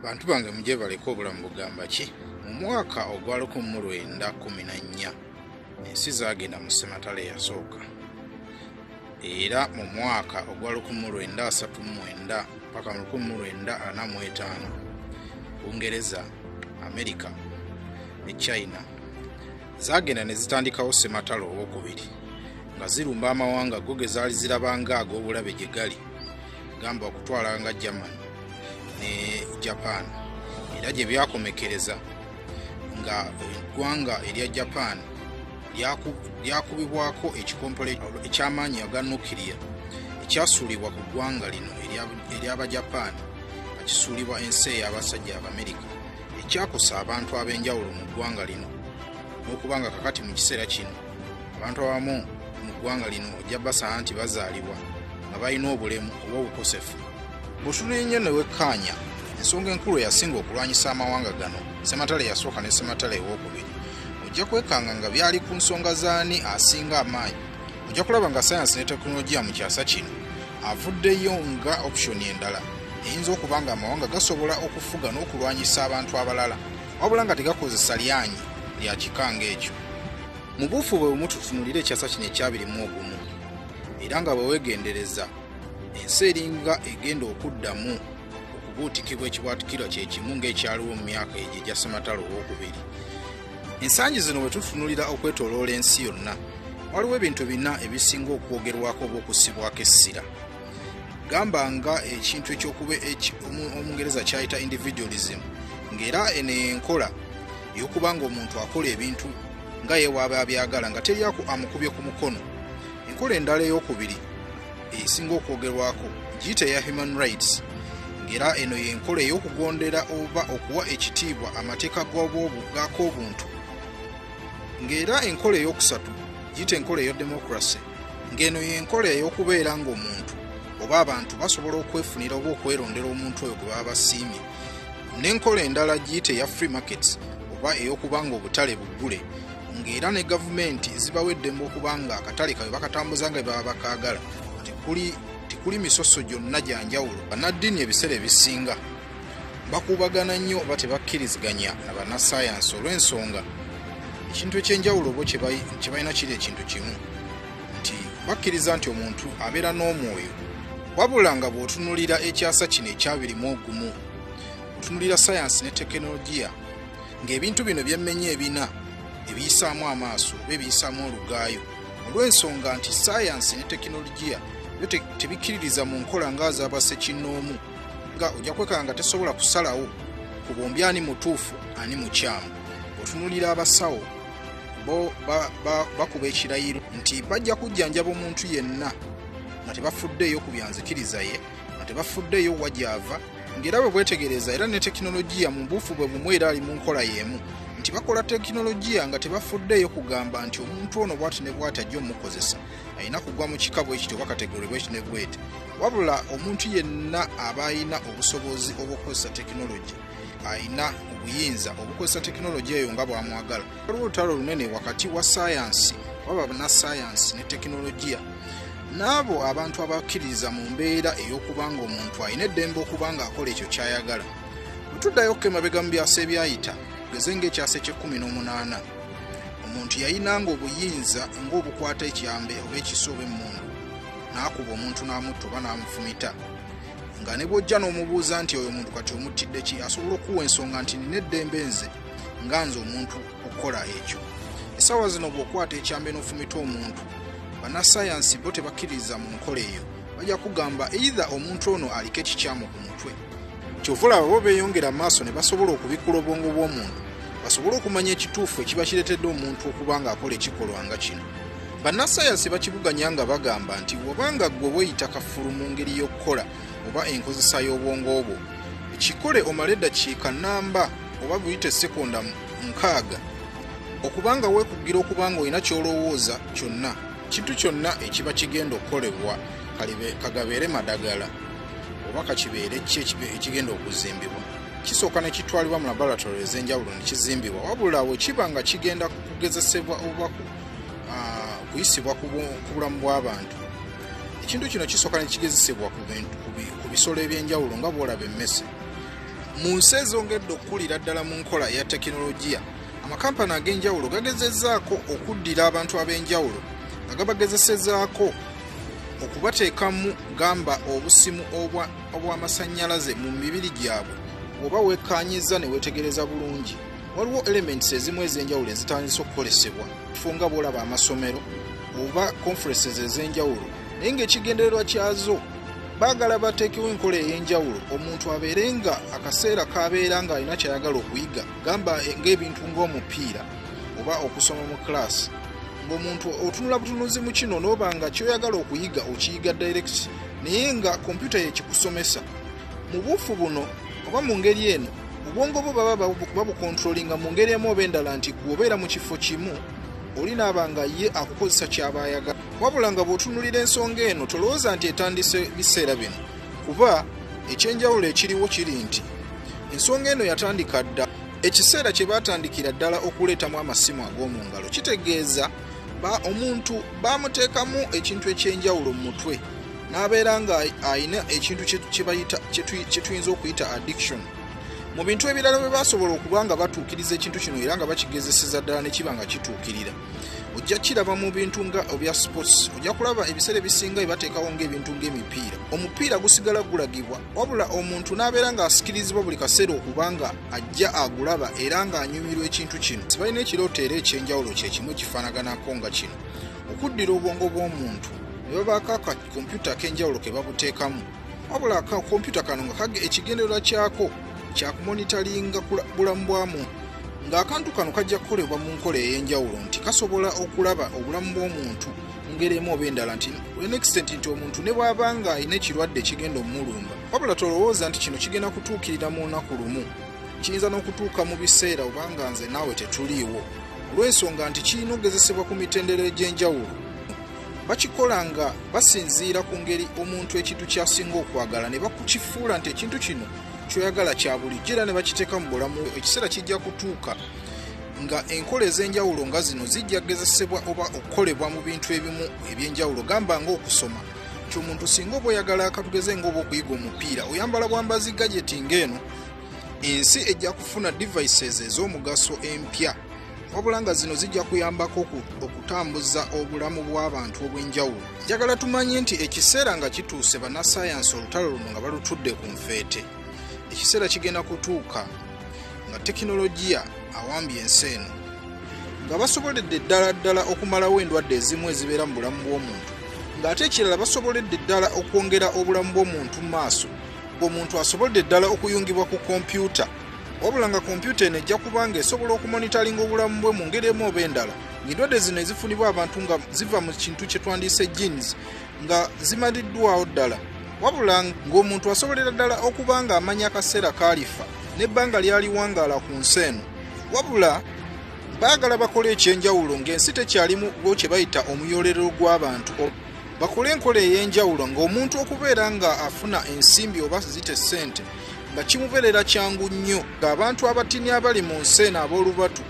bantu bange mujebaleko obulamu bugamba ki mu mwaka ogwa 1914 ensi zagenda mu sematale eyasooka era mu mwaka ogwa 1939 paka mu 1945 bungereza amerika ne china zagenda ne zitandikawo sematale owokubiri nga zirumba amawanga go ge zaali zirabanga ag'obulabe gye gali gamba okutwala nga german ne japan era gye byakomekereza nga eggwanga erya japan lyakubibwako ekikompola eky'amaanyi aga nukiriya ekyasuulibwa ku ggwanga lino ery'abajapaani nga kisuulibwa ensi ey'abasajja abamerika ekyakosa abantu ab'enjawulo mu ggwanga lino n'okuba nga kakati mu kiseera kino abantu abamu mu ggwanga lino ojja basanga nti bazaalibwa nga balina obulemu oba obukosefu bw'otunula ennyo ne wekkaanya ensonga enkulu eyasinga okulwanyisa amawanga gano sematale yasooka ne sematale ew'okubiri ojja kwekanga nga byali ku nsonga z'ani asinga amaanyi ojja kulaba nga sayansi ne tekinologiya mu kyasa kino avuddeyo nga opusoni endala eyinza okuba nga amawanga gasobola okufuga n'okulwanyisa abantu abalala wabula nga tegakozesa lyanyi lya kika ng'ekyo mu buufu bwe bumu tutunulire ekyasa kino ekyabiri mu ogumu era nga bwe weegendereza ensi eringa egenda okuddamu okubuutikibwa ekibwatukirwa kye kimu ng'ekyaliwo mu myaka egyo egya sematalo ow'okubiri ensangi zino bwe tutunulira okwetooloola ensi yonna waliwo ebintu bina ebisinga okwogerwako oba okussibwako essira gamba nga ekintu ekyokuba omungereza kyayita individualism ngaera eno enkola eyokuba nga omuntu akola ebintu nga yewaaba abyagala nga teryaku amukubye ku mukono enkola endala eyokubiri esinga okwogerwako giyita eya human rights ngaera eno yenkola eyokugondera oba okuwa ekitiibwa amateeka gakobuntu ngaera enkola eyokusatu giyita enkola eyo democracy ng'eno y'enkola ey'okubeera ng'omuntu oba abantu basobola okwefunira oba okwerondera omuntu oyo gwe baba basiimye n'enkola endala giyite eya free markets oba ey'okuba ng'obutale buggule ng'era ne gavumenti zibawa eddembe okuba nga akatale kawe bakatambuza nga baba bakaagala tekuli misoso gyonna gya njawulo bannaddiini ebiseera ebisinga bakuubagana nnyo oba tebakkiriziganya na bannassaayansi olw'ensonga ekintu eky'enjawulo bo kye balina kiri ekintu kimu nti bakkiriza nti omuntu abeera n'omwoyo wabula nga bw'otunulira ekyasa kino ekyabirimu ogumu otunulira sayansi ne tekinologiya ng'ebintu bino byemmenya ebina ebiyisaamu amaaso oba ebiyisaamu olugaayo olw'ensonga nti sayansi ne tekinologiya byo tebikkiririza mu nkola ng'azabasekinnoomu nga ojja kwekanga nga tesobola kusalawo ku bombi ani mutuufu ani mukyamu otunulira abasawo bo bakuba ekirayiro nti bajja kujjanjaba omuntu yenna nga tebafuddeeyo ku byanzikiriza ye nga tebafuddeeyo wa gyava ng'era bwe bwetegereza era ne tekinologiya mu buufu bwe bumu era ali mu nkola y'emu nti bakola tekinologiya nga tebafuddeeyo kugamba nti omuntu ono bwati ne bwati ajja omukozesa alina kugwa mu kika bwe kityo oba kategori bwe kino bweti wabula omuntu yenna aba alina obusobozi obw'okukozesa tekinologi alina obuyinza obukozesa tekinologi eyo nga bwamwagala waliwo olutalo lunene wakati wa sayansi waba banasayansi ne tekinologiya n'abo abantu abakkiririza mu mbeera ey'okuba nga omuntu alina eddembe okuba ng'akola ekyo ky'ayagala bwe tuddayo okukemabega mu byasa ebyayita geze ng'ekyasa eky'ekkumi n'omunaana omuntu yayinanga obuyinza ng'obukwata ekyambe oba ekiso oba emmundu n'akuba omuntu n'amutta oba n'amufumita nga ne bw'ojja n'omubuuza nti oyo omuntu kati omuttidde ki asobola okuwa ensonga nti nina eddembe nze nga nze omuntu okukola ekyo essaawa zino bw'okwata ekyambe n'ofumita omuntu bannasayansi bo tebakkiririza mu nkola eyo bajja kugamba eitha omuntu ono aliko ekikyamu ku mutwe kyova olaba bo beeyongera amaaso ne basobola okubikkula obwongo bw'omuntu basobole okumanya ekituufu ekiba kireetedde omuntu okuba ng'akola ekikolwa nga kino bannasayansi bakibuganya nga bagamba nti wabanga ggwe weeyita kafulu mu ngeri y'okukola oba enkozesa y'obwongo bwo ekikole omala eddakiika nnamba oba buyite sekonda nkaaga okubanga weekugira okuba nga olina ky'olowooza kyonna kintu kyonna ekiba kigenda okukolebwa kagabeere madagala oba kakibeere ki ekigenda okuzimbibwa kisooka ne kitwalibwa mu laboratory ez'enjawulo ne kizimbibwa wabula we kiba nga kigenda kugezesebwa oba kuyisibwa ku bulamu bw'abantu ekintu kino kisooka ne kigezesebwa ku bisolo eby'enjawulo nga bwolaba emmese mu nsi ezongedde okukulira ddala mu nkola eya tekinologiya amakampani ag'enjawulo gagezezaako okuddira abantu ab'enjawulo nga gabagezesezaako okubateekamu gamba obusimu obw'amasannyalaze mu mibiri gyabwe oba wekkaanyizza ne weetegereza bulungi waliwo elements ezimu ez'enjawulo ezitandise okukolesebwa kifo nga bwolaba amasomero oba conferences ez'enjawulo naye ng'ekigendererwa kyazo baagala bateekewo enkola ey'enjawulo omuntu abeere nga akaseera k'abeera ng'alina ky'ayagala okuyiga gamba ng'ebintu ng'omupiira oba okusoma mu kulaasi ng'omuntu otunula butunuzi mu kino n'oba nga kyoyagala okuyiga okiyiga direct naye nga kompyuta yekikusomesa mu buufu buno oba mu ngeri eno obwongo bwo baba babukontrolinga mu ngeri emu oba endala nti gwe obeera mu kifo kimu oli naaba nga ye akukozesa kyaba ayagala wabula nga bw'otunulira ensonga eno tolowooza nti etandise biseera bino kuba ekyenjawulo ekiriwo kiri nti ensonga eno yatandika dda ekiseera kye baatandikira ddala okuleetamu amasimu ag'omu ngalo kitegeeza ba omuntu baamuteekamu ekintu eky'enjawulo mu mutwe n'abeera nga alina ekintu kye tuyinza okuyita addiction mu bintu ebirala bwe basobola okuba nga batuukiriza ekintu kino era nga bakigezeseza ddala ne kiba nga kituukirira ojja kiraba mu bintu nga obya sports ojja kulaba ebiseera ebisinga ebateekawo ngaebintu ngaemipiira omupiira gusigala gulagibwa wabula omuntu n'abeera ng'asikirizibwa buli kaseera okuba nga ajja agulaba era ng'anyumirwa ekintu kino sibalina ekirooto era ekyenjawulo kyekimu ekifanaganako nga kino okuddira obwongo bw'omuntu ne babaako akakompyuta ak'enjawulo ke babuteekamu wabula akakompyuta kano nga kage ekigendererwa kyako kyakumonitalinga bulamu bwa muntu ng'akantu kano kajja kukolebwa mu nkola ey'enjawulo nti kasobola okulaba obulamu bw'omuntu ngeri emu oba endala nti enextent nti omuntu ne bw'aba nga alina ekirwadde ekigenda omulumba wabula tolowooza nti kino kigenda kutuukirira mu lunaku lumu kiyinza n'okutuuka mu biseera obanga nze naawe tetuliiwo olw'ensonga nti kirina okugezesebwa ku mitendera egy'enjawulo bakikola nga basinziira ku ngeri omuntu ekintu kyasinga okwagala ne bakukifuula nti ekintu kino kyoyagala kya bulijjo era ne bakiteeka mu bulamu ekiseera kijja kutuuka nga enkola ez'enjawulo nga zino zijja kugezesebwa oba okukolebwa mu bintu ebimu eby'enjawulo gamba ng'okusoma kyomuntu singa oba oyagala akatugeze ngaoba okuyiga omupiira oyambala bwambazi gajeti ngaeno ensi ejja kufuna devices ez'omugaso empya wabula nga zino zijja kuyambako okutambuza obulamu bw'abantu obw'enjawulo njagala tumanye nti ekiseera nga kituuse bannasayansi olutalo luno nga balutudde ku nfeete ekiseera kigenda kutuuka nga tekinologiya awambye ensi eno nga basoboledde ddala ddala okumalawo endwadde ezimu ezibeera mu bulamu bw'omuntu ng'ate ekirala basoboledde ddala okwongera obulamu bw'omuntu mu maaso ng'omuntu asoboledde ddala okuyungibwa ku kompyuta wabula nga kompyuta eno ejja kubanga esobola okumonitalinga obulamu bwe mu ngeri emu oba endala ng'endwadde zino ezifunibwa abantu nga ziva mu kintu kye twandiyise genes nga zimaliddwawo ddala wabula ng'omuntu asobolera ddala okuba ng'amanya akaseera kaalifa n'ebbanga lyaliwangaala ku nsi eno wabula baagala bakole ekyenjawulo ng'ensi tekyalimu bo kye bayita omuyolero gw'abantu bakole enkola ey'enjawulo ng'omuntu okubeera nga afuna ensimbi oba zite ssente nga kimubeerera kyangu nnyo ng'abantu abatini abali mu nsi eno ab'olubatu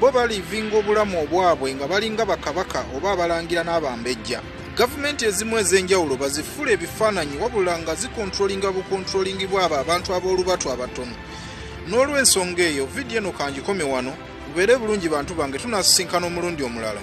Bo baliivinga obulamu obwabwe nga balinga bakabaka oba abalangira n'abambejja. Gavumenti ezimu ez'enjawulo bazifula ebifaananyi wabula nga zikontrolinga bukontrolingibwa abo abantu ab'olubatu abatono. N'olw'ensonga eyo, vidiyo eno kangikome wano, mubeere bulungi bantu bange tunasisinkana omulundi omulala.